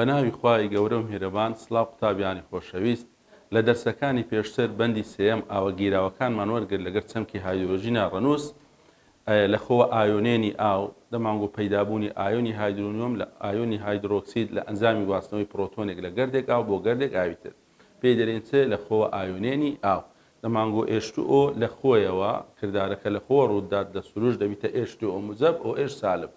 بە ناوی خوای گەورە و میهرەبان سڵاو قوتابیانی خۆشەویست، لە دەرسەکانی پێشتر بەندی سێیەم ئاوە گیراوەکانمان وەرگرت لەگەر چەمکی هایدرۆجینە ڕەنووس ئایا لە خۆوە ئایۆنێنی ئاو، دەمانگۆ پەیدابوونی ئایۆنی هایدرۆنیۆم لە ئایۆنی هایدرۆکسید لە ئەنجامی گواستنەوەی پرۆتۆنێک لە گەردێک ئاو بۆ گەردێک ئاوی تر. پێی دەرێن چ لە خۆوە ئایۆنێنی ئاو. دەمانگۆ ئێچ تو ئۆ لە خۆیەوە، کردارەکە لە خۆوە ڕووددات لە سروشت دەبیتە ئێچ تو ئۆ موجەب، ئۆ ئێچ سالب.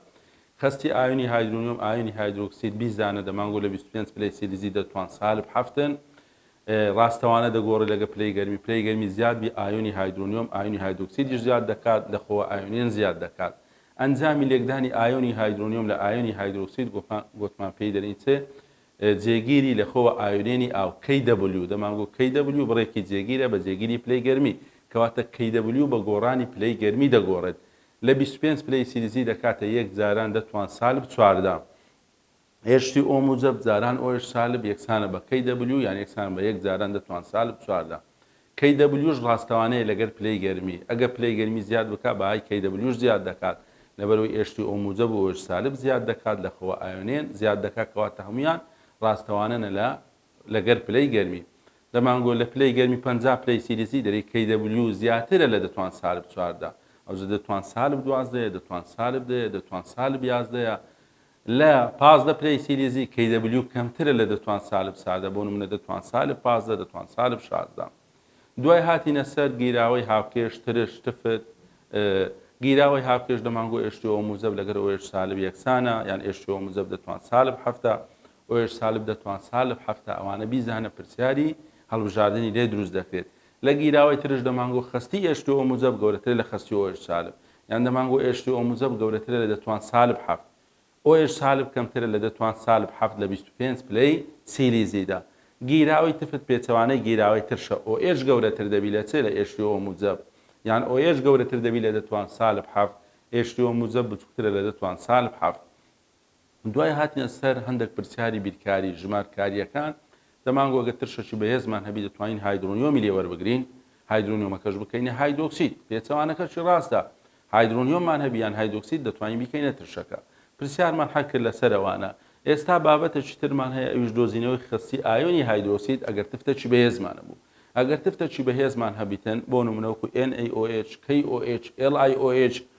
خەستی ئایۆنی هایدرۆنیۆم ئایۆنی هایدرۆکسید بیست دانە دەمانگۆ لە بیست و پێنج پلەی سیلیزی دەتوان سالب حەفتن ڕاستەوانە دەگۆڕێت لەگە پلەی گەرمی، پلەی گەرمی زیاد بی ئایۆنی هایدرۆنیۆم ئایۆنی هایدرۆکسیدیش زیاد دەکات لە خۆوە ئایۆنێن زیاد دەکات ئەنجامی لێکدانی ئایۆنی هایدرۆنیۆم لە ئایۆنی هایدرۆکسید گۆتمان پێی دەرین چ جێگیری لە خۆوە ئایۆنێنی ئاو KW دەمانگو KW بڕێکی جێگیرە بە جێگیری پلەی گەرمی کەواتە KW بە گۆڕانی پلەی گەرمی دەگۆڕێت لە بیست و پێنج پلەی سیلیزی دەکاتە یەک جاران دە توان سالب چواردە ئێ شتی ئۆ موجەب جاران ئۆ ئێش سالب یەکسانە بە کەی دەبلیو یان یەکسانە بە یەک جاران دەتوان سالب چوار لە کەی دەبلیوش ڕاستەوانەیە لەگەر پلەی گەرمی ئەگەر پلەی گەرمی زیاد بکا بەهای کەی دەبلیوش زیاد دەکات لەبەرەوەی ئێ شتی ئۆ موجەب و ئۆ ئێش سالب زیاد دەکات لە خەوە ئایۆنێن زیاد دەکات کەواتە هەموویان ڕاستەوانەنە لە لەگەر پلەی گەرمی دەمانگۆ لە پلەی گەرمی پەنجا پلەی سیلیزی دەری کەی دەبلیو زیاترە لە دەتوان سالب چوار دا ئەوجە دەتوان سالب دوازدەیە دەتوان سالب دەیە دەتوان سالب یازدەیە لە پازدە پلەی سیلیزی Kw کەمترە لە دەتوان سالب سادە، بۆ نمونە دەتوان سالب پازدە، دەتوان سالب شازدە. دوای هاتینە سەر گیراوەی هاوکێش، ترش، تفت، ە، گیراوەی هاوکێش دەمانگۆ ئێشتیۆ و موزەب لەگەر ئۆ ئێش سالب یەکسانە، یان ئێشتیۆ و موزەب دەتوان سالب حەفتا، ئۆ ئێش سالب دەتوان سالب حەفتا، ئەوانە بیزانە پرسیاری هەڵبژاردنی لێ دروست دەکرێت. لە گیراوەی ترش دەمانگۆ خەستی ئێشتوو ئۆ موجەب گەورەترە لە خەستی ئۆ ئێش سالب یان دەمانگۆ ئێشتوو ئۆ موجەب گەورەترە لە دە توان سالب حەفت ئۆ ئێش سالب کەمترە لە دە توان سالب حەفت لە بیست و پێنج پلەی سیلیزیدا گیراوەی تفت پێچەوانەی گیراوەی ترشە ئۆ ئێش گەورەتر دەبی لە چ لە ئێشتوو ئۆ موجەب یان ئۆ ئێش گەورەتر دەبی لە دە توان سالب حەفت ئێشتوو ئۆ موجەب بچووکترە لە دە توان سالب حەفت دوای هاتنە سەر هەندەک پرسیاری بیرکاری ژمارکارییەکان، دەمانگۆ ئەگەر ترشەکی بەهێزمان هەبی دەتوانین هایدرۆنیۆمی لێ وەربگرین، هایدرۆنیۆمەکەش بکەینە هایدۆکسید، پێچەوانەکەشی ڕاستە، هایدرۆنیۆممان هەبی یان هایدۆکسید دەتوانین بیکەینە ترشەکە. پرسیارمان حەل کرد لەسەر ئەوانە. ئێستا بابەتەکی ترمان هەیە ئەویش دۆزینەوەی خەستی ئایۆنی هایدرۆکسید ئەگەر تفتەکی بەهێزمان هەبوو. ئەگەر تفتەکی بەهێزمان هەبیتن، بۆ نمونە وەکو NaOH، KOH، LiOH،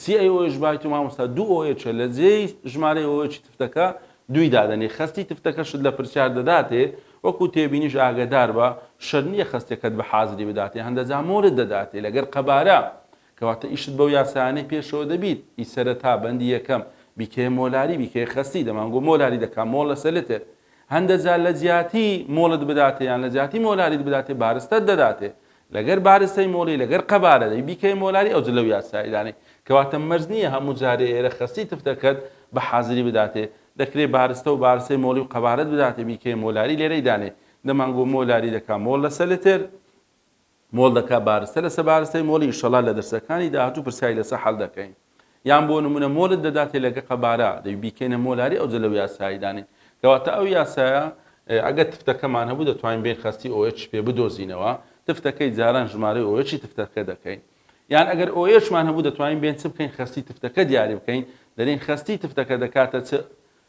سی ئەی ئۆ ئێچ بای تو مامۆستا دوو ئۆ ئێچە لە جێی ژمارەی ئۆ ئێچی تفتەکە دووی دادەنێ خەستی تفتەکەشت لە پرسیار دەداتێ وەکو تێبینیش ئاگەداربە شەر نیە خەستەکەت بە حازری بداتێ هەندە جا مۆرت دەداتێ لەگەر قەبارە کەواتە ئیشت بەو یاسایانەی پێشەوە دەبیت ئی سەرەتا بەندی یەکەم بیکەیە مۆلاری بیکەیە خەستی دەمانگۆ مۆلاری دەکا مۆڵ لەسەر لتر هەندە جا لە جیاتی مۆڵت بداتێ یان لە جیاتی مۆلاریت بداتێ بارستەت دەداتێ لەگەر بارستەی مۆلی لەگەر قەبارە دەی بیکەی مۆلاری ئەوجە لەو یاسایە دانەی کەواتە مەرج نیە هەموو جارێ ئێرە خەستی تفتەکەت بە حازری بداتێ دەکرێ بارستە و بارستەی مۆلی و قەبارەت بداتێ بیکەی مۆلاری لێرەی دانێ دەمان گۆ مۆلاری دەکا مۆل لەسە لتر مۆل دەکا بارستە لەسە بارستەی مۆلی ئیشەڵا لە دەرسەکانی داهاتوو پرسیاری لەسە حەل دەکەین. یان بۆ نمونە مۆرت دەداتێ لەگە قەبارە دەی بیکەینە مۆلاری ئەوجە لەو یاسایی دانین کەواتە ئەو یاسایە ئەگە تفتەکەمان هەبوو دەتوانین بێن خەستی ئۆئچ پێ بدۆزینەوە تفتەکەی جاران ژمارەی ئۆئچی تفتەکە دەکەین یان ئەگەر ئۆئچمان هەبوو دەتوانین بێن چ بکەین خەستی تفتەکە دیاری بکەین دەرین خەستی تفتەکە دەکاتە چ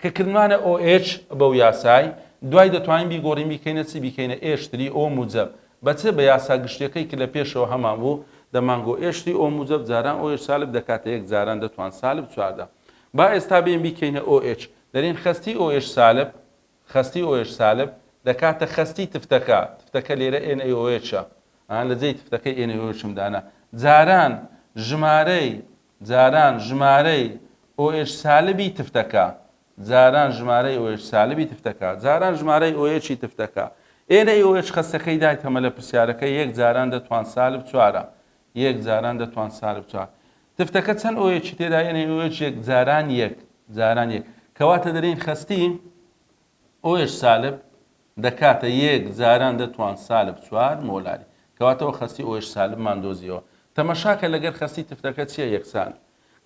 کە کردمانە OH بەو یاسای دوای دەتوانین بیگۆرین بیکەینە چی بیکەینە A شتری O موجەب بە چ بە یاسا گشتیەکەی ک لە پێشەوە هەمان بوو دەمان گۆ A شتری O موجەب جاران OH سالب دەکاتە یەک جاران دەتوان سالب چوار دا با ئێستا بێین بیکەینە OH دەرێن خەستی OH سالب خەستی OH سالب دەکاتە خەستی تفتەکە تفتەکە لێرە NaOH ە لە جێی تفتەکەی NaOH م دانا جاران ژمارەی جاران ژمارەی OH سالبی تفتەکە جاران ژمارەی OH سالبی تفتەکە جاران ژمارەی OH ی تفتەکە ئێرە OH خەستەکەی دایتەمە لە پرسیارەکە یەک جاران دە توان سالب چوارە یەک جاران دە توان سالب چوار تفتەکە چەند OH ی تێدا NaOH یەک جاران یەک جاران یەک کەواتە دەرین خەستی ئۆێش سالب دەکاتە یەک جاران دەتوان سالب چوار مۆلاری کەواتەوە خەستی ئۆێش سالبمان دۆزیەوە تەمەشاکە لەگەر خەستی تفتەکە چیە یەکسان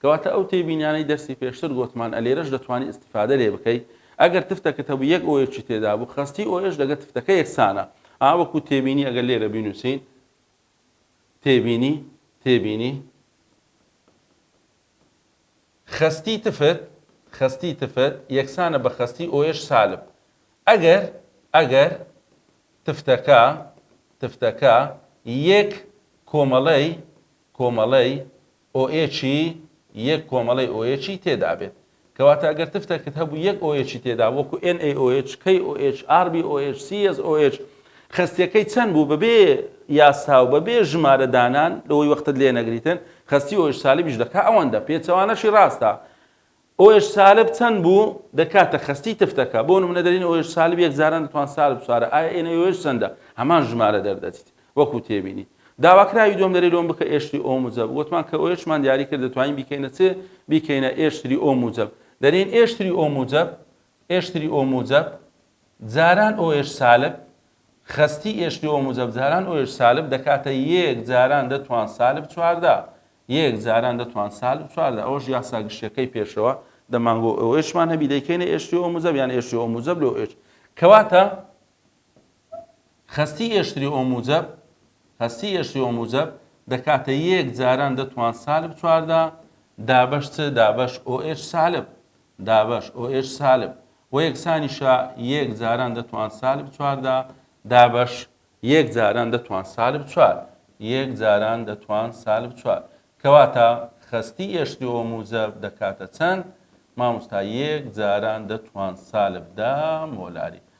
کەواتە ئەو تێبینانەی دەرسی پێشتر گۆتمان ئەلێرەش دەتوانی استفادە لێ بکەی ئەگەر تفتەکەت هەبوو یەک ئۆێچی تێدا بوو خەستی ئۆێش لەگە تفتەکە یەکسانە ئا وەکو تێبینی ئەگەر لێرە بینوسین تێبینی تێبینی خەستی تفت، خەستی تفت، یەکسانە بە خەستی ئۆێش سالب ئەگەر، ئەگەر، تفتەکە، تفتەکە، یەک کۆمەڵەی، کۆمەڵەی، ئۆێچی، یەک کۆمەڵەی ئۆێچی تێدابێت. کەواتە ئەگەر تفتەکت هەبوو یەک ئۆئێچی تێدا وەکو NaOH، KOH، RbOH، CsOH خەستیەکەی چەند بوو بەبێ یاسا و بەبێ ژمارە دانان لەوەی وەختت لێ نەگریتن خەستی ئۆئێچ سالبیش دەکا ئەوەندە پێچەوانەشی ڕاستە ئۆئێچ سالب چەند بوو دەکاتە خەستی تفتەکە بۆ نمونە دەرین ئۆئێچ سالب یەک جاران دەتوان سالب چوارە ئایا ئێنە ئۆئێچ چەندە هەمان ژمارە دەردەچیت وەکو تێبینی داواکراوی دووەم لەرێ لۆم بکە ئێشتری ئۆ موجەب وتمان کە ئۆێشمان دیاری کرد دەتوانین بیکەینە چ بیکەینە ئێشتری ئۆ موجەب دەرێن ئێشتری ئۆ موجەب ئێشتری ئۆ موجەب جاران ئۆێش سالب خەستی ئێشتری ئۆ موجەب جاران ئۆێش سالب دەکاتە یەک جاران دەتوان سالب چواردە یەک جاران دەتوان سالب چواردە ئەوەش یاسا گشتەکەی پێشەوە دەمانگۆ ئۆێشمان هەبی دەیکەینە ئێشتری ئۆ موجەب یان ئێشتری ئۆ موجەب لۆ ئێش کەواتە خەستی ئێشتری ئۆموجەب، خەستی ئێشتری ئۆموجەب، دەکاتە یێک جاران دە توان سالب چواردە، دابەش چ دابەش OH سالب، دابەش OH سالب، وە یەکسانیشە یێک جاران دە توان سالب چواردە، دابەش یێک جاران دە توان سالب چوار، یێک جاران دە توان سالب چوار، کەواتە خەستی ئێشتری ئۆموجەب دەکاتە چەند؟ ماموستا یێک جاران دە توان سالب دە مۆلاری،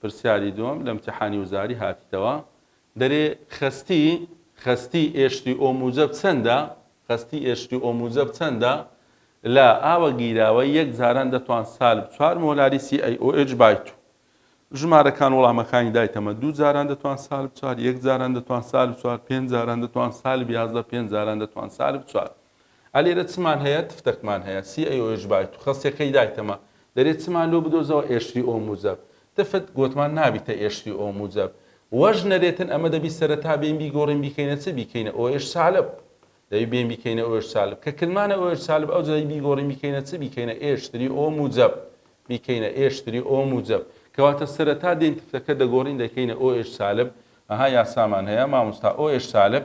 پرسیاری دووەم لە امتحانی وزاری هاتیتەوە دەرێ خەستی خەستی ئێشتی ئۆ موجەب چەندە خەستی ئێشتی ئۆ موجەب چەندە لە ئاوە گیراوە یەک جاران دەتوان سالب چوار مۆلاری سی ئەی ئۆ ئێچ بای تو ژمارەکان وڵامەکانی دایتەمە دوو جاران دەتوان سالب چوار یەک جاران دەتوان سالب چوار پێنج جاران دەتوان سالب یازدە پێنج جاران دەتوان سالب چوار ئا لێرە چمان هەیە؟ تفتەکمان هەیە. سی ئەی ئۆش بای تو خەسیە کەی دایتەمە. دەرێ چمان لۆ بدۆزەوە ئێشری ئۆ موجەب. تفت گۆتمان نابیتە ئێشری ئۆ موجەب. وەش نەرێتن ئەمە دەبی سەرەتا بێین بیگۆڕین بیکەینە چ؟ بیکەینە ئۆش سالب. دەبی بێین بیکەینە ئۆش سالب. کە کلمانە ئۆش سالب ئەوجە دەبی بیگۆڕین بیکەینە چ؟ بیکەینە ئێشتری ئۆ موجەب. بیکەینە ئێشتری ئۆ موجەب. کەواتە سەرەتا دێین تفتەکە دەگۆڕین دەکەینە ئۆش سالب. ئەها یاسامان هەیە ماموستا ئۆش سالب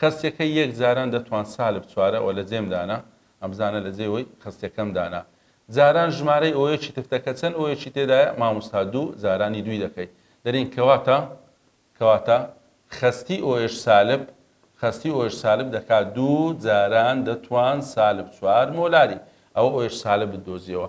خەستیەکەی یەک جاران دەتوان سالب چوارە وە لە جێم دانا ئەم زانە لە جێ وەی خەستیەکەم دانا جاران ژمارەی ئۆیەکی تفتەکە چەن ئۆیەکی تێدایە ماموستا دوو جارانی دووی دەکەی دەرین کەواتە کەواتە خەستی ئۆیەش سالب خەستی ئۆیەش سالب دەکا دوو جاران دەتوان سالب چوار مۆلاری ئەوە ئۆیەش سالبت دۆزیەوە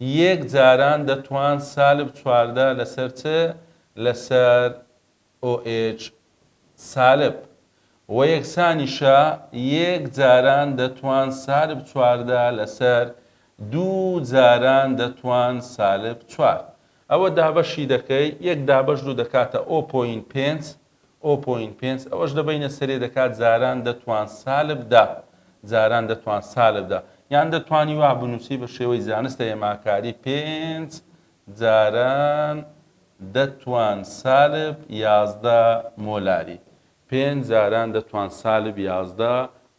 یەک جاران دەتوان سالب چواردە لەسەر چ لەسەر OH سالب؟ وە یەکسانیشە یەک جاران دەتوان سالب چواردە لەسەر دوو جاران دەتوان سالب چوار ئەوە دابەشی دەکەی یەک دابەش دوو دەکاتە O پۆینت پێنج ئۆ پۆینت پێنج ئەوەش دەبەینە سەرێ دەکات جاران دەتوان سالب دە جاران دەتوان سالب دە یان دەتوانی وا بنووسی بە شێوەی زانستە هێماکاری پێنج جاران دەتوان سالب یازدە مۆلاری پێنج جاران دەتوان سالب یازدە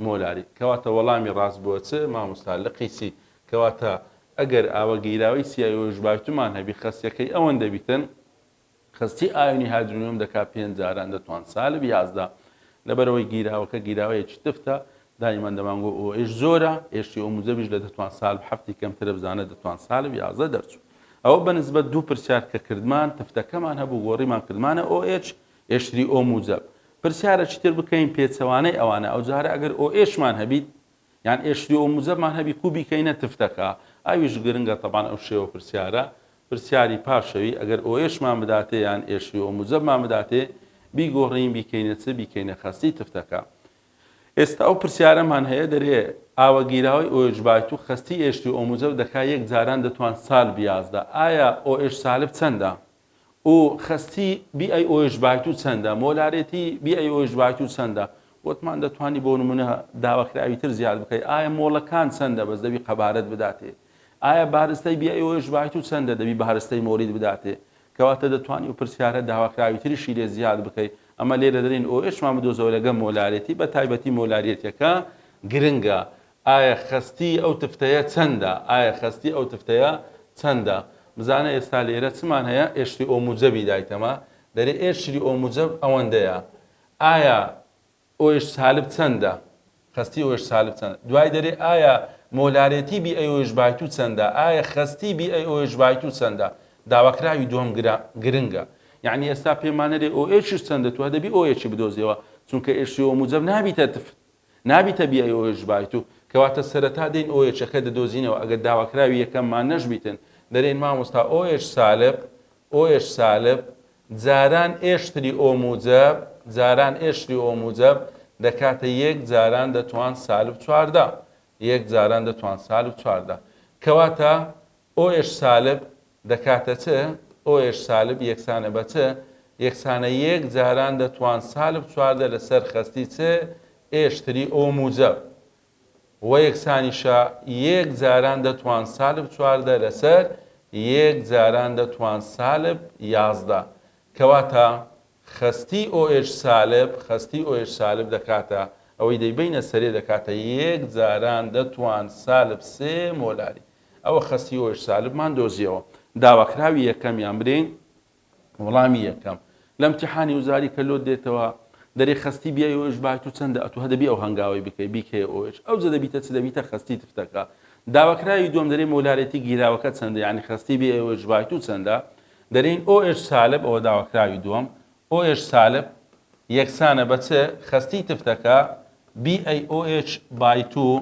مۆلاری کەواتە وەڵامی ڕاست بۆ چ مامۆستا لقی سی کەواتە ئەگەر ئاوە گیراوی سیایۆژ بایتومان هەبی خەسیەکەی ئەوەن دەبیتن کەستی ئایۆنی هایدرۆنیۆم دەکات پێنج جاران دەتوان سالب یازدە لەبەرەوەی گیراوەکە گیراوەیەکی تفتە دایمان دەمانگۆ ئەو ئێش زۆرە ئێشتی ئەو موجەبیش لە دەتوان سالب هەفتی کەمترە بزانە دەتوان سالب یازدە دەرچوو ئەوە بەنسبەت دوو پرسیار کە کردمان تفتەکەمان هەبوو گۆڕیمان کردمانە ئۆ ئێچ ئێشتری ئۆ موجەب پرسیارە چیتر بکەین پێچەوانەی ئەوانە ئەو جارە ئەگەر ئۆ ئێشمان هەبیت یان ئێشلی و موزەمان هەبی کو بیکەینە تفتەکا؟ ئەویش گرنگە تەبان ئەو شێوە پرسیارە پرسیاری پاشەوی ئەگەر ئۆێشمان بداتێ یان ئێشلی و موزەمان بداتێ بیگۆڕین بیکەینە چ بیکەینە خەستی تفتەکا؟ ئێستا ئەو پرسیارەمان هەیە دەرێ ئاوە گیراوەی ئۆێش بایت و خەستی ئێشلی و موزەو دەکا یەک جاران دەتوان سالب یازدە ئایا ئۆێش سالب چەندە؟ و خەستی بی ئەی ئۆش بایتو چەندە مۆلارێتی بی ئەی ئۆش بایتو چەندە وتمان دەتوانی بۆ نمونە داواکراوی تر زیاد بکەی ئایا مۆڵەکان چەندە بەس دەبی قەبارەت بداتێ ئایا بارستای بی ئەی ئۆش بایتو چەندە دەبی بارستای مۆلید بداتێ کەواتە دەتوانی و پرسیارە داواکراوی تریشی لێ زیاد بکەی ئەمە لێرە دەرین ئۆ ئێشمان بدۆزەوە لەگەم مۆلارێتی بە تایبەتی مۆلاریەتەکە گرنگە ئایە خەستی ئەو تفتەیە چەندە؟ ئایە خەستی ئەو تفتەیە چەندە؟ بزانە ئێستا لێرە چمان هەیە ئێشری ئۆ موجەبی دایتەمە دەرێ ئێشری ئۆ موجەب ئەوەندەیە ئایە ئۆیش سالب چەندە؟ خەستی ئۆیش سالب چەندە؟ دوای دەرێ ئایە مۆلارێتی بی ئەی ئۆیش بایتو چەندە؟ ئایە خەستی بی ئەی ئۆیش بایتو چەندە؟ داواکراوی دووەم گرنگە یعنی ئێستا پێمانەرێ ئۆ ئێشش چەندە تو دەبی ئۆ ئێشی بدۆزیەوە چونکە ئێشری ئۆ موجەب نابیتە تفت نابیتە بیای ئۆێچ بایت و کەواتە سەرەتا دێن ئۆێچەکە دەدۆزینەوە ئەگەر داواکراوی یەکەممان نەشبیتن دەرێن مامۆستا ئۆێچ سالب ئۆێچ سالب جاران ئێشتری ئۆ موجەب جاران ئێشتری ئۆ موجەب دەکاتە یەک جاران دەتوان سالب چواردە یەک جاران دەتوان سالب چواردە کەواتە ئۆش سالب، دەکاتە چ؟ ئۆش سالب یەکسانە بە چ؟ یەکسانە یەک جاران دەتوان سالب چواردە لە سەر خەستی چ ئێش تری ئۆ موجەب. وە یەکسانیشە یەک جاران دەتوان سالب چواردە لە سەر یەک جاران دەتوان سالب یازدە. کەواتە خەستی ئۆش سالب، خەستی ئۆش سالب دەکاتە، ئەوەی دەیبەینە سەرێ دەکاتە یەک جاران دەتوان سالب سێ مۆلاری. ئەوە خەستی ئۆش سالبمان دۆزیەوە. داواکراوی یەکەم یان برێ وڵامی یەکەم لە امتیحانی وزاری کە لۆت دێتەوە دەرێ خەستی بیای ئۆش بای تو چەندە ئەتو هەدەبی ئەو هەنگاوەی بکەی بیکەیە ئۆش ئەوجە دەبیتە چ دەبیتە خەستی تفتەکە داواکراوی دووەم دەرێ مۆلارێتی گیراوەکە چەندە یانی خەستی بی ئۆش بای تو چەندە دەرێن ئۆش سالب ئەوە داواکراوی دووەم ئۆش سالب یەکسانە بە چ خەستی تفتەکە BAOH by 2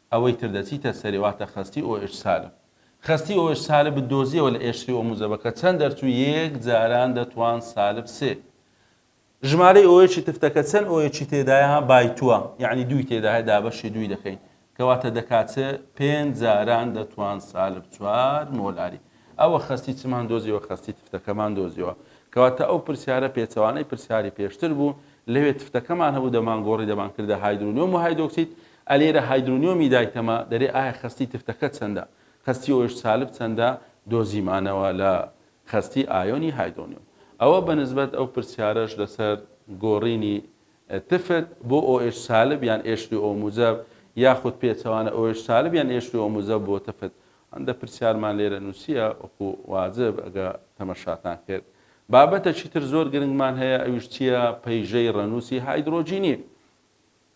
ئەوەی تر دەچیتە سەرێ واتە خەستی ئۆئێچ سالب. خەستی ئۆئێچ سالبت دۆزیەوە لە ئێچ سی ئۆ موجەبە کە چەند دەرچوو یەک جاران دەتوان سالب سێ. ژمارەی ئۆئێچی تفتەکە چەند ئۆئێچی تێدایە بای تووە یانی دووی تێدایە دابەشی دووی دەکەین کەواتە دەکات چ پێنج جاران دەتوان سالب چوار مۆلاری. ئەوە خەستی چمان دۆزیەوە خەستی تفتەکەمان دۆزیەوە. کەواتە ئەو پرسیارە پێچەوانەی پرسیاری پێشتر بوو لەوێ تفتەکەمان هەبوو دەمانگۆڕی دەمانکردە هایدرۆنیۆم و هایدۆکسید ئە لێرە هایدرۆنیۆمی دایتەمە دەرێ ئایا خەستی تفتەکە چەندە خەستی ئۆش سالب چەندە دۆزیمانەوە لە خەستی ئایۆنی هایدرۆنیۆم ئەوە بە نسبەت ئەو پرسیارەش لەسەر گۆڕینی تفت بۆ ئۆش سالب یان ئێش سی ئۆ موجەب یاخود پێچەوانە ئۆش سالب یان ئێش سی ئۆ موجەب بۆ تفت هەندە پرسیارمان لێرە نوسیە وەکو واجب ئەگە تەمەشاتان کرد بابەتەکی تر زۆر گرنگمان هەیە ئەویش چیە پەیژەی ڕەنوسی هایدرۆجینی.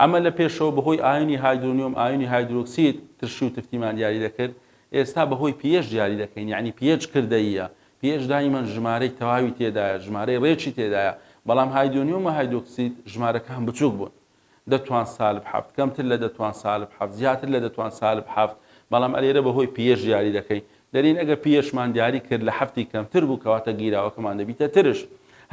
ئەمە لە پێشەوە بەهۆی ئایۆنی هایدرۆنیۆم ئایۆنی هایدرۆکسید ترشی و تفتیمان دیاری دەکرد ئێستا بەهۆی پیێچ دیاری دەکەین یەعنی پیێچ کردەییە پیێچ دایمەن ژمارەی تەواوی تێدایە ژمارەی ڕێکی تێدایە بەڵام هایدۆنیۆم و هایدۆکسید ژمارەکان بچووک بوون دە توان سالب حەفت کەمتر لە دە توان سالب حەفت زیاتر لە دە توان سالب حەفت بەڵام ئەلێرە بەهۆی پیێچ دیاری دەکەین دەرین ئەگەر پییەشمان دیاری کرد لە حەفتی کەمتر بوو کەواتە گیراوەکەمان دەبیتە ترش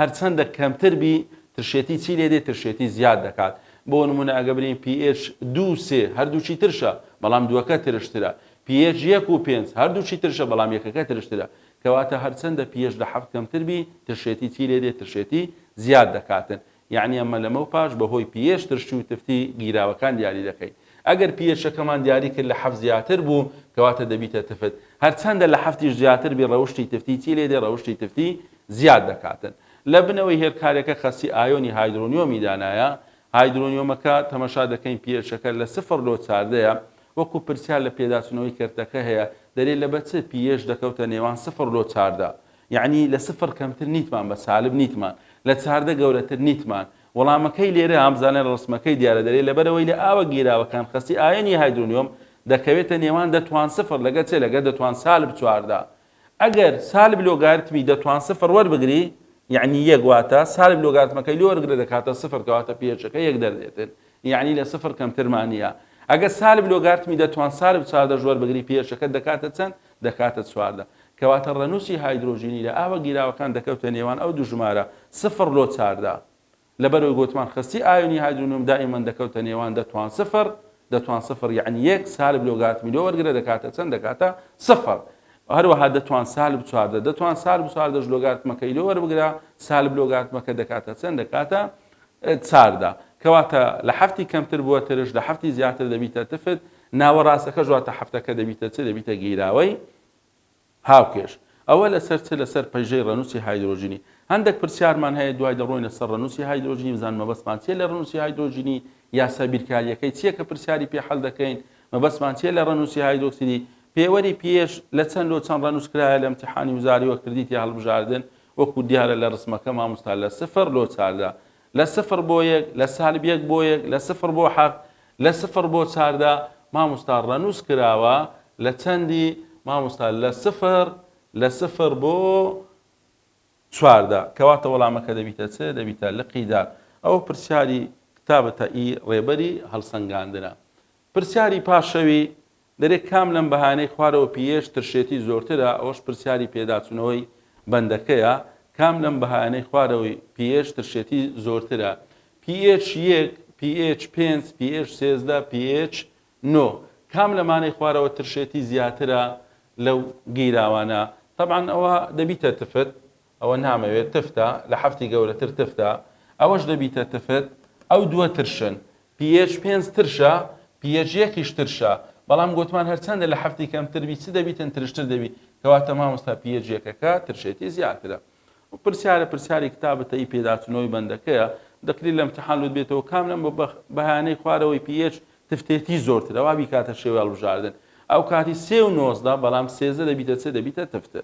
هەرچەندە کەمتر بی ترشێتی چی لێدێ ترشێتی زیاد دەکات بۆ نمونە ئەگە برین پییەش دوو سێ هەردووچی ترشە بەڵام دووەکە ترشترە پییەش یەک و پێنج هەردووچی ترشە بەڵام یەکەکە ترشترە کەواتە هەرچەندە پییەش لە حەفت کەمتر بی ترشێتی چی لێدێ ترشێتی زیاد دەکاتن یەعنی ئەمە لەمەو پاش بەهۆی پییەش ترشی و تفتی گیراوەکان دیاری دەکەین. ئەگەر پییەشەکەمان دیاری کرد لە حەفت زیاتر بوو کەواتە دەبیتە تفت. هەرچەندە لە حەفتیش زیاتر بی ڕەوشتی تفتی چی لێدێ ڕەوشتی تفتی زیاد دەکاتن. لە بنەوەی هێلکارێکە خەستی ئایۆنی هایدرۆنیۆمی دانایە. هایدرۆنیۆمەکە تەمەشا دەکەین پییەشەکە لە سفر لۆ چاردەیە. وەکو پرسیار لە پێداچونەوەی کەرتەکە هەیە دەرێ لە بە چ پییەش دەکەوتە نێوان سفر لۆ چاردە. یەعنی لە سفر کەمتر نیتمان بە سالب نیتمان لە چاردە گەورەتر نیتمان وەڵامەکەی لێرە بزانە لە ڕسمەکەی دیارە دەرێ لەبەرەوەی لە ئاوە گیراوەکان خەستی ئایۆنی هایدرۆنیۆم دەکەوێتە نێوان دەتوان سفر لەگە چێ لەگە دەتوان سالب چواردە ئەگەر سالب لۆگارتمی دەتوان سفر وەربگری یعنی یەک واتە سالب لۆگارتمەکەی لۆ وەرگرە دەکاتە سفر کەواتە پێچەکە یەک دەردێتن یعنی لە سفر کەمترمانە ئەگە سالب لۆگارتمی دەتوان سالب چاردە ژوەر بگری پێچەکە دەکاتە چەند دەکاتە چواردە. کەواتە ڕێنووسی هایدرۆجینی لە ئاوە گیراوەکان دەکەوتە نێوان ئەو دوو ژمارە، سفر لۆ چار، دا. لەبەرئەوەی گۆتمان خەستی ئایۆنی هایدرۆنیۆم دائیمەن دەکەوتە نێوان دە توان سفر، دە توان سفر یەعنی یەک، سالب لۆگارتمی لۆ وەرگرە دەکاتە چەند؟ دەکاتە سفر. هەروەها دە توان سالب چواردە، دە توان سالب چواردەش لۆگارتمەکەی لۆ وەربگرە، سالب لۆگارتمەکە دەکاتە چەند؟ دەکاتە چاردا کەواتە لە حەفتی کەمتر بووە ترش لە حەفتی زیاتر دەبیتە تفت ناوە ڕاستەکەش واتە حەفتەکە دەبیتە چ دەبیتە گیراوەی هاوکێش ئەوە لەسەر چ لەسەر پەیژەی ڕەنووسی هایدرۆژینی هەندێک پرسیارمان هەیە دوای دەڕۆینە سەر ڕەنووسی هایدرۆژینی بزان مەبەستمان چیە لە ڕەنووسی هایدرۆژینی یاسا بیرکاریەکەی چیە کە پرسیاری پێ حەل دەکەین مەبەستمان چیە لە ڕەنووسی هایدرۆکسیدی پێوەری پێش لە چەند لۆ چەند ڕەنووسکرایە لە امتحانی وزاری وە کردیتی هەڵبژاردن وەکو دیارە لە رسمەکە ماموستا لە سفر لۆ چاردە لە سفر بۆ یەک لە سالب یەک بۆ یەک لە سفر بۆ حەفت لە سفر بۆ چاردە ماموستا رەنوس کراوە لە چەندی ماموستا لە سفر لە سفر بۆ چواردە کەواتە وەڵامەکە دەبیتە چ دەبیتە لقی دار ئەوە پرسیاری کتابتە ئی رێبەری هەلسەنگاندنە پرسیاری پاشەوی دەرێ کام لەم بەهانەی خوارەوە پیێش ترشێتی زۆرترە ئەوەش پرسیاری پێداچونەوەی بەندەکەیە کام لەم بەهایانەی خوارەوەی پیێش ترشێتی زۆرترە پیێچ یەک پیێچ پێنج پیێچ سێزدە پیێچ نۆ کام لەمانەی خوارەوە ترشێتی زیاترە لەو گیراوانە تەبعەن ئەوە دەبیتە تفت ئەوە نامەوێت تفتە لە حەفتی گەورەتر تفتە ئەوەش دەبیتە تفت ئەو دووە ترشن ph پێنج ترشە ph یەکیش ترشە بەڵام گۆتمان هەرچەندە لە حەفتی کەمتر بی چ دەبیتن ترشتر دەبی کەواتە مامۆستا ph یەکەکە ترشێتی زیاترە و پرسیارە پرسیاری کتابە تەی پێداچنەوەی بەندەکەیە دەکری لە امتحان لوت بێتەوە کام لەم بە بەهانەی خوارەوەی ph تفتێتی زۆرترە وابی کاتە شێوی هەڵبژاردن ئەو کاتی سێ و نۆزدە بەڵام سێزدە دەبیتە چ دەبیتە تفتر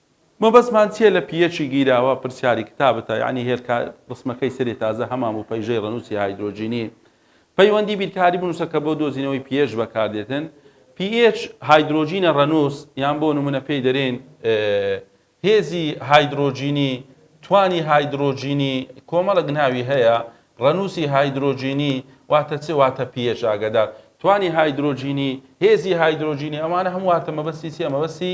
مەبەستمان چیە لە پیەچی گیراوە پرسیاری کتابتە یانی هێلکە ڕسمەکەی سەری تازە هەمان بوو پەیژەی ڕەنوسی هایدرۆجینی پەیوەندی بیرکاری بنوسە کە بۆ دۆزینەوەی پیەچ بەکاردێتن پیئێچ هایدرۆجینە ڕەنوس یان بۆ نمونە پێی دەرێن هێزی هایدرۆجینی توانی هایدرۆجینی کۆمەڵک ناوی هەیە ڕەنوسی هایدرۆجینی واتە چ واتە پیەچ ئاگادار توانی هایدرۆجینی هێزی هایدرۆجینی ئەمانە هەم واتە مەبەستی چیە مەبەستی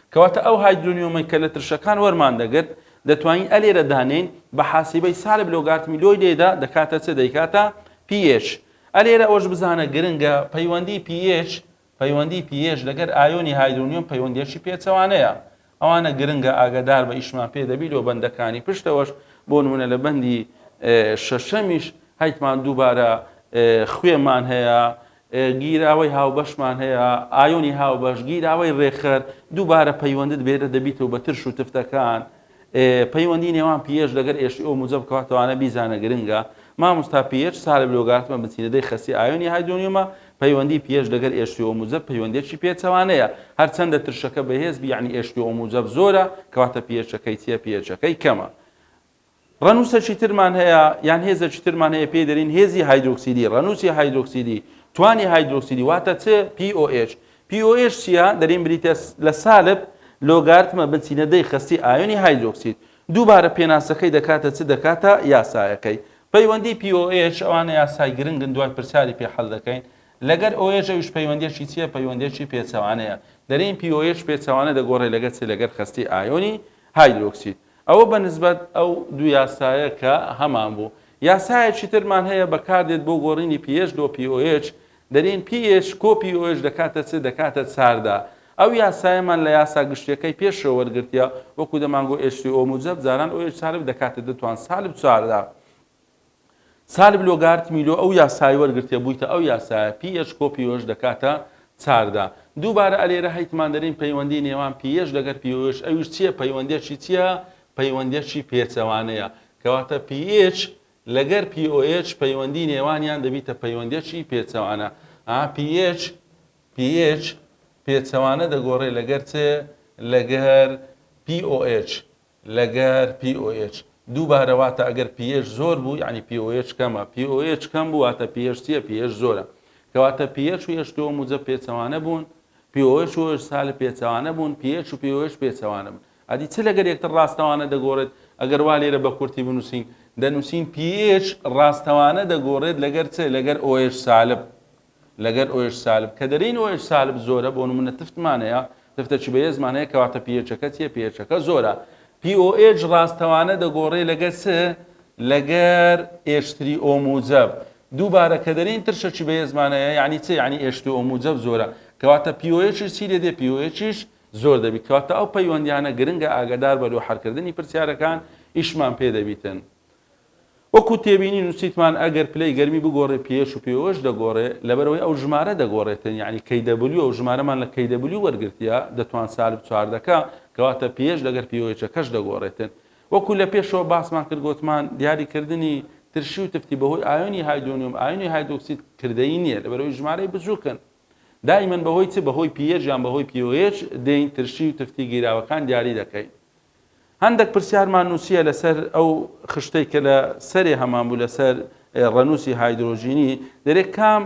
کەواتە ئەو هایدرۆنیۆمەی کە لە ترشەکان وەرمان دەگرت دەتوانین ئەلێرە دانێین بە حاسیبەی سالب لۆگارتمی لۆی لێدا دەکاتە چ دەیکاتە pH ئەلێرە ئەوەش بزانە گرنگە پەیوەندی pH پەیوەندی pH لەگەر ئایۆنی هایدرۆنیۆم پەیوەندیەکی پێچەوانەیە ئەوانە گرنگە ئاگەدار بە ئیشمان پێ دەبی لۆ بەندەکانی پشتەوەش بۆ نمونە لە بەندی شەشەمیش هەیتمان دووبارە خوێمان هەیە گیراوەی هاوبەشمان هەیە، ئایۆنی هاوبەش، گیراوەی ڕێکخەر، دووبارە پەیوەندت بێرە دەبیتەوە بە ترش و تفتەکان، پەیوەندی نێوان پیێچ لەگەر ئێشی ئۆ موجەب کاتەوانە بیزانە گرنگە، ماموستا پیێچ سالب لۆگارتمە بنچینەدەی خەستی ئایۆنی هایدرۆنیۆمە، پەیوەندی پیێچ لەگەر ئێشی ئۆ موجەب پەیوەندیەکی پێچەوانەیە، هەرچەندە ترشەکە بەهێز بی یەعنی ئێشی ئۆ موجەب زۆرە کەواتە پیێچەکەی چیە پیێچەکەی کەمە. ڕەنووسەکی ترمان هەیە یان هێزەکی ترمان هەیە پێی دەرین هێزی هایدرۆکسیدی ڕەنووسی هایدرۆکسیدی توانی هایدرۆکسیدی واتە چ POH POH چییە دەرین بریتە لە سالب لۆگارتمە بنچینە دەی خەستی ئایۆنی هایدرۆکسید دووبارە پێناسەکەی دەکاتە چ دەکاتە یاسایەکەی پەیوەندی POH ئەوانە یاسای گرنگن دوای پرسیاری پێ حەل دەکەین لەگەر OH ئەویش پەیوەندیەکی چییە پەیوەندیەکی پێچەوانەیە دەرین POH پێچەوانە دەگۆڕێ لەگەر چ لەگەر خەستی ئایۆنی هایدرۆکسید ئەوە بە نسبەت ئەو دوو یاسایە کە هەمان بوو. یاسایەکی ترمان هەیە بەکاردێت بۆ گۆڕینی pH لۆ pOH، دەرین pH کۆ pOH دەکاتە چ؟ دەکاتە چاردە. ئەو یاسایەمان لە یاسا گشتیەکەی پێشەوە وەرگرتیە، وەکو دەمانگۆ H3O موجەب جاران OH سالب دەکاتە دە توان سالب چاردە. سالب لۆگارت می لۆ ئەو یاسای وەرگرتێ بویتە ئەو یاسایە پی ئێچ کۆ پیۆش دەکاتە چاردە دووبارە ئەلێرە هەیتمان دەرین پەیوەندی نێوان پیێچ لەگەر پیۆش ئەویش چیە پەیوەندێکی چیە پەیوەندێکی پێچەوانەیە کەواتە پیێچ لەگەر پیۆچ پەیوەندی نێوانیان دەبیتە پەیوەندێکی پێچەوانە ئا پیێچ پیێچ پێچەوانە دەگۆڕێ لەگەر چێ لەگەر POH لەگەر POH دووبارە واتە ئەگەر pH زۆر بوو یانی POH کەمە POH کەم بوو واتە pH چیە pH زۆرە کەواتە pH و H دووەم و جە پێچەوانە بوون POH و H سالب پێچەوانە بوون pH و POH پێچەوانە بوون ئەدی چ لەگەر یەکتر ڕاستەوانە دەگۆڕێت ئەگەر وا لێرە بە کورتی بنووسین دەنووسین pH ڕاستەوانە دەگۆڕێت لەگەر چ لەگەر OH سالب لەگەر ئۆ ئێچ سالب کە دەرین ئۆ ئێچ سالب زۆرە بۆ نمونە تفتمان هەیە تفتە چ بەێزمان هەیە کەواتە پی ئێچەکە چیە پی ئێچەکە زۆرە پی ئۆ ئێچ ڕاستەوانە دەگۆڕێ لەگەر چ لەگەر ئێشتری ئۆ موجەب دووبارە کە دەرین ترشە چ بەێزمان هەیە یعنی چ یعنی ئێشتی ئۆ موجەب زۆرە کەواتە پی ئۆ ئێچ چی لێ دێ پی ئۆ ئێچیش زۆر دەبیت کەواتە ئەو پەیوەندیانە گرنگە ئاگادار بە لۆ حەرکردنی پرسیارەکان ئیشمان پێ دەبیتن وەکو تێبینی نوسیتمان ئەگەر پلەی گەرمی بگۆڕێ pH و pOh دەگۆڕێ لەبەرئەوەی ئەو ژمارە دەگۆڕێتن یەعنی kW و ژمارەمان لە kW وەرگرتیە دەتوان سالب چوار دەکا کەواتە pH لەگەر pOh کەش دەگۆڕێتن وەکو لەپێشەوە باسمان کرد گۆتمان دیاری کردنی ترشی و تفتی بەهۆی ئایۆنی هایدۆنیۆم ئایۆنی هایدۆکسید کردەیی نیە لەبەرئەوەی ژمارەی بچوکن دائیمەن بەهۆی چ بەهۆی pH یان بەهۆی pOh دێین ترشی و تفتی گیراوەکان دیاری دەکەین هەندەک پرسیارمان نووسییە لەسەر ئەو خشتەی کە لە سەرێ هەمان بوو لەسەر ڕەنووسی هایدرۆجینی، دەرێ کام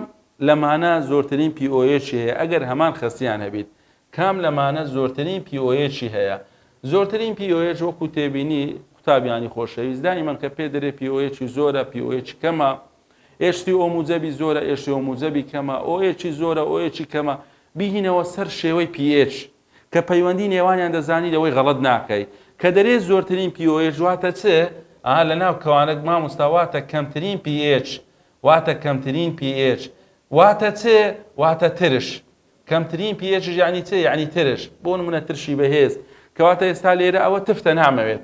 لەمانە زۆرترین پیئۆیەچی هەیە ئەگەر هەمان خەستیان هەبیت؟ کام لەمانە زۆرترین پیئۆیەچی هەیە؟ زۆرترین پیئۆیەچ وەکوو تێبینی قوتابیانی خۆشەویست دایمەن کە پێ دەرێ پیئۆیەچی زۆرە، پیئۆیەچی کەمە، ئێچ-سی ئۆ موجەبی زۆرە، ئێچ-سی ئۆ موجەبی کەمە، ئۆ-ئێچی زۆرە، ئۆ-ئێچی کەمە، بیهینەوە سەر شێوەی پیئێچ. کە پەیوەندی نێوانیان دەزانی لەوەی غەڵەت ناکەی کە دەرێ زۆرترین POH واتە چ ئا لەناو کەوانەک ماموستا واتە کەمترین PH واتە کەمترین PH واتە چ واتە ترش کەمترین PH یش یانی چ یانی ترش بۆ نمونە ترشی بەهێز کەواتە ئێستا لێرە ئەوە تفتە نامەوێت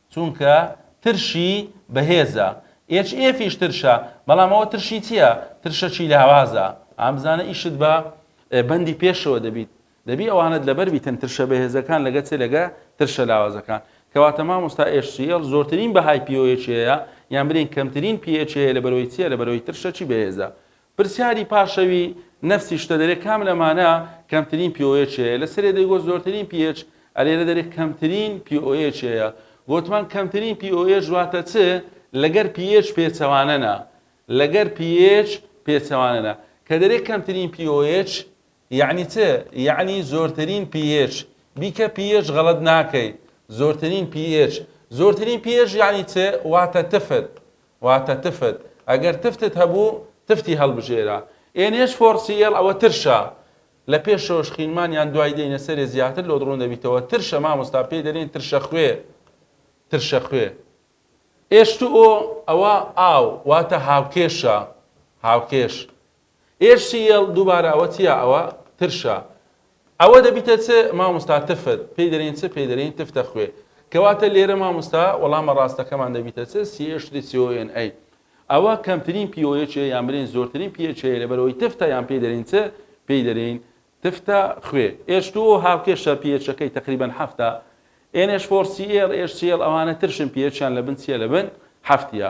چونکە ترشی بەهێزە. HF یش ترشە، بەڵام ئەوە ترشی چیە؟ ترشەکی لاوازە. ئا بزانە ئیشت بە بەندی پێشەوە دەبیت. دەبی ئەوانەت لەبەر بیتن ترشە بەهێزەکان لەگە چ لەگە ترشە لاوازەکان. کەواتە مامۆستا HCL زۆرترین بەهای POH هەیە یان برێین کەمترین PH هەیە لەبەرەوەی چیە لەبەرەوەی ترشەکی بەهێزە. پرسیاری پاشەوی نەفسی شتە دەرێ کام لەمانە کەمترین pOH هەیە؟ لە سەرێ دەیگۆت زۆرترین pH ە لێرە دەرێ کەمترین pOH هەیە گۆتمان کەمترین pOH واتە چ لەگەر pH پێچەوانەە لەگەر pH پێچەوانەە کە دەرێ کەمترین pOH یەعنی چ؟ یەعنی زۆرترین پیئێچ. بیکە پیئێچ غەڵەت ناکەی. زۆرترین پیئێچ. زۆرترین پیئێچ یەعنی چ؟ واتە تفت. واتە تفت. ئەگەر تفتت هەبوو، تفتی هەڵبژێرە. ئێن ئێچ فۆر سی ئێڵ ئەوە ترشە. لە پێشەوەش خینمان یان دوای دێینە سەرێ زیاتر لۆت ڕوون دەبیتەوە. ترشە مامۆستا پێی دەلێن ترشە خوێ. ترشە خوێ. ئێچ تو ئۆ ئەوە ئاو. واتە هاوکێشە. هاوکێش. HCL دووبارە ئەوە چیە ئەوە ترشە ئەوە دەبیتە چ ماموستا تفت پێی دەرین چ پێی دەرین تفتە خوێ کەواتە لێرە ماموستا وەڵامە ڕاستەکەمان دەبیتە چ CH3CONA ئەوە کەمترین پیۆیچ یان برین زۆرترین پیچ لەبەرەوەی تفتە یان پێی دەرین چ پێی دەرین تفتە خوێ H2O هاوکێشە پیچەکەی تقریبا هەفتە NH4Cl HCl ئەوانە ترشن پیچیان لە بن چیە لە بن هەفتە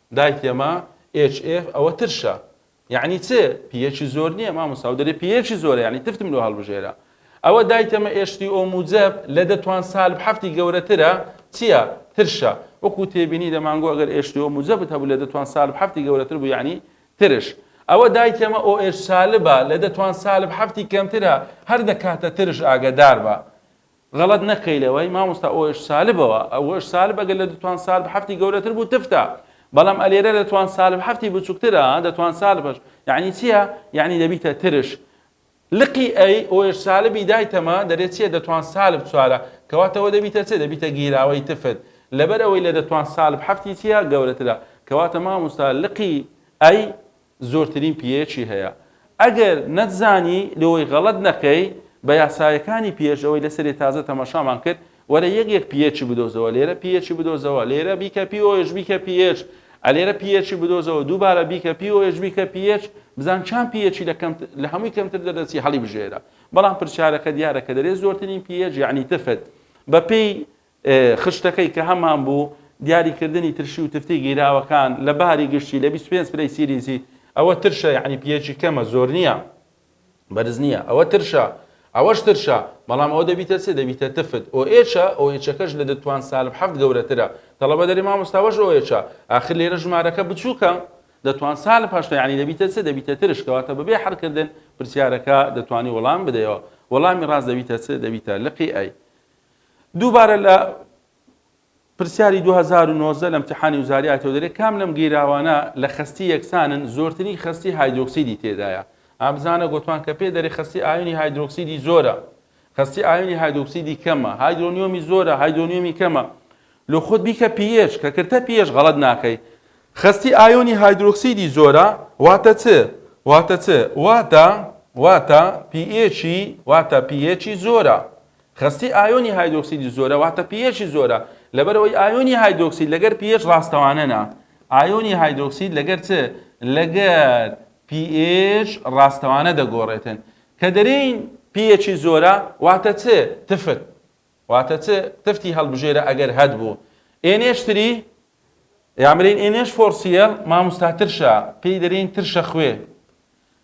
دایک یەما ئێچ ئێف ئەوە ترشە یەعنی چ پیەکی زۆر نیە مامۆستا و دەرێ پیەکی زۆرە یەعنی تفتم لۆ هەڵبژێرە ئەوە دایک یەمە ئێچ تی ئۆ موجەب لە دە توان سالب حەفتی گەورەترە چیە ترشە وەکو تێبینی دە مانگۆ ئەگەر ئێچ تی ئۆ موجەبت هەبوو لە دە توان سالب حەفتی گەورەتر بوو یەعنی ترش ئەوە دایک یەمە ئۆ ئێچ سالبە لە دە توان سالب حەفتی کەمترە هەر دەکاتە ترش ئاگەدار بە غەڵەت نەکەی لەوەی مامۆستا ئۆش سالبەوە ئەوش سالب ئەگەر لە دتوان سالب حەفتی گەورەتر بوو تفتە بەڵام ئەلێرە لە توان سالب حەفتی بچووکترە دەتوان سالبش یعنی چییە یعنی دەبیتە ترش لقی ئەی ئۆش سالبی دایتەمە دەرێ چییە دەتوان سالب چوارە کەواتەوە دەبیتە چێ دەبیتە گیراوەی تفت لەبەر ئەوەی لە دەتوان سالب حەفتی چییە گەورەترە کەواتە مامۆستا لقی ئەی زۆرترین پیەیەکی هەیە ئەگەر نەتزانی لۆی غەڵەت نەکەی بە یاسایەکانی پێش ئەوەی لەسەرێ تازە تەماشامان کرد وەرە یەک یەک پیەیەکی بدۆزەوە لێرە پیەیەکی بدۆزەوە لێرە بیکە پیۆش بیکە پیەیەک ئەلێرە پیەیەکی بدۆزەوە دووبارە بیکە پیۆش بیکە پیەیەک بزان چان پیەیەکی لە کەم لە هەمووی کەمتر دەدەچی هەڵی بژێرە بەڵام پرسیارەکە دیارە کە دەرێ زۆرترین پیەیەک یعنی تفت بەپێی خشتەکەی کە هەمان بوو، دیاریکردنی ترشی و تفتی گیراوەکان لە باری گشتی لە بیست و پێنج پلەی سیلیزی، ئەوە ترشە یانی پیەچی کەمە زۆر نییە بەرز نییە، ئەوە ترشە ئەوەش ترشە بەڵام ئەوە دەبیتە چ دەبیتە تفت OH ە OH ەکەش لە دتوان سالب حەفت گەورەترە تەڵەبە دەرێ مامۆستا ئەوەش OH ە ئاخر لێرە ژمارەکە بچووکە دەتوان سالب هەشتا یانی دەبیتە چ دەبیتە ترش کەواتە بەبێ حەلکردن پرسیارەکە دەتوانی وەڵام بدەیەوە وەڵامی ڕاست دەبیتە چ دەبیتە لقی ئەی دووبارە لە پرسیاری دوو هەزار و نۆزدە لە ئیمتیحانی وزاری ئایتەوە دەرێ کام لەم گیراوانە لە خەستی یەکسانن زۆرترین خەستی هایدرۆکسیدی تێدایە ئا بزانە گۆتمان کە پێ دەرێ خەستی ئایونی هایدرۆکسیدی زۆرە خەستی ئایونی هایدرۆکسیدی کەمە هایدرۆنیۆمی زۆرە هایدرۆنیۆمی کەمە لۆ خۆت بیکە پیێش کە کردتە پیێش غەڵەت ناکەی خەستی ئایونی هایدرۆکسیدی زۆرە واتە چ واتە چ واتە واتە پیێچی واتە پیێچی زۆرە خەستی ئایۆنی هایدرۆکسیدی زۆرە واتە پیئێچی زۆرە لەبەرئەوەی ئایۆنی هایدرۆکسید لەگەر پیئێچ ڕاستەوانە نا ئایۆنی هایدرۆکسید لەگەر چ لەگەر پیئێچ ڕاستەوانە دەگۆڕێتن کە دەرێین پیئێچی زۆرە واتە چ تفت واتە چ تفتی هەڵبژێرە ئەگەر هەت بوو ئێنێش تری یامرین ئێنێش فۆرسیەل ماموستا ترشە پێی دەرێین ترشە خوێ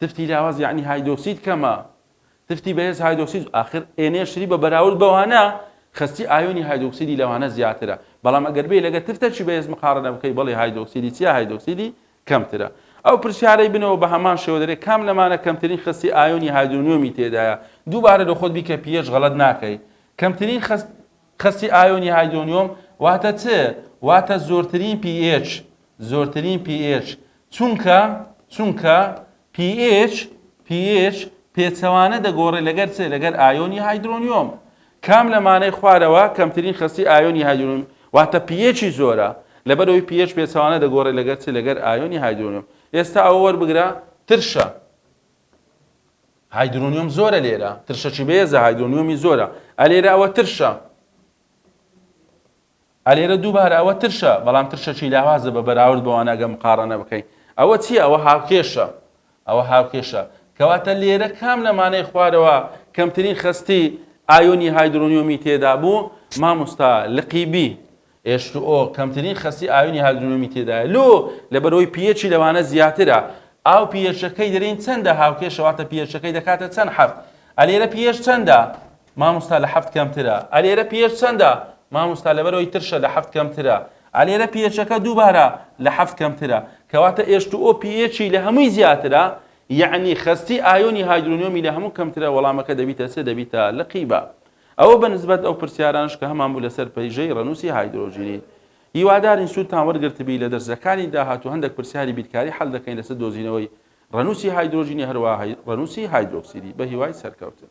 تفتی لاواز یەعنی هایدۆکسید کەمە تفتی بەهێز هایدۆکسید ئاخر ئێنێشری بە بەراورد بەوانە خستی ئایۆنی هایدۆکسیدی لەوانە زیاترە بەڵام ئەگەر بێ لەگە تفتەکی بەهێز مقارنە بکەی بەڵی هایدۆکسیدی چیا هایدۆکسیدی کەمترە ئەو پرسیارەی بنەوە بە هەمان شێوە دەرێ کام لەمانە کەمترین خستی ئایۆنی هایدرۆنیۆمی تێدایە دووبارە لە خۆت بیکە پیێش غەڵەت ناکەی کەمترین خست قەستی ئایۆنی هایدۆنیۆم واتە چ؟ واتە زۆرترین pH زۆرترین pH چونکە چونکە pH pH پێچەوانە دەگۆڕێ لەگەر چ؟ لەگەر ئایۆنی هایدرۆنیۆم کام لەمانەی خوارەوە کەمترین خەستی ئایۆنی هایدرۆنیۆم واتە پیەچی زۆرە لەبەرەوەی پیەچ پێچوانە دەگۆڕێ لەگەر چ لەگەر ئایۆنی هایدرۆنیۆم ئێستا ئەوە وەربگرە ترشە هایدرۆنیۆم زۆرە لێرە ترشەچی بەێزە هایدرۆنیۆمی زۆرە ئەلێرە ئەوە ترشە ئەلێرە دووبارە ئەوە ترشە بەڵام ترشەچی لاوازە بە بەراورد بەوانەگە مقاڕەنە بکەین ئەوە چییە ئەوە هاوکێشە ئەوە هاوکێشە کەواتە لێرە کام لەمانەی خوارەوە کەمترین خستی ئایۆنی هایدرۆنیۆمی تێدا بوو مامۆستا لقیبی ئێچ تو ئۆ، کەمترین خەستی ئاوینی هاگرونومی تێدایە لۆ لەبەرئەوەی پی ئێچی لەوانە زیاترە ئاو پی ئێچەکەی دەرێین چەندە هاوکێشە واتە پی ئێچەکەی دەکاتە چەند حەفت ئە لێرە پی ئێچ چەندە ماموستا لە حەفت کەمترە ئە لێرە پی ئێچ چەندە ماموستا لەبەرەوەی ترشە لە حەفت کەمترە ئە لێرە پی ئێچەکە دووبارە لە حەفت کەمترە کەواتە ئێچ تو ئۆ پی ئێچی لە هەمووی زیاترە یەعنی خەستی ئایۆنی هایدرۆنیۆمی لە هەموو کەمترە وەڵامەکە دەبیتە چ دەبیتە لقی بە ئەوە بە نسبەت ئەو پرسیارانەش کە هەمان بوو لەسەر پەیژەی ڕەنووسی هایدرۆجینی. هیوادارین سوودتان وەرگرتبی، لە دەرسەکانی داهاتوو هەندێک پرسیاری بیرکاری حەل دەکەین لەسەر دۆزینەوەی ڕەنووسی هایدرۆجینی هەروەها ڕەنووسی هایدرۆکسیدی. بەهیوای سەرکەوتن.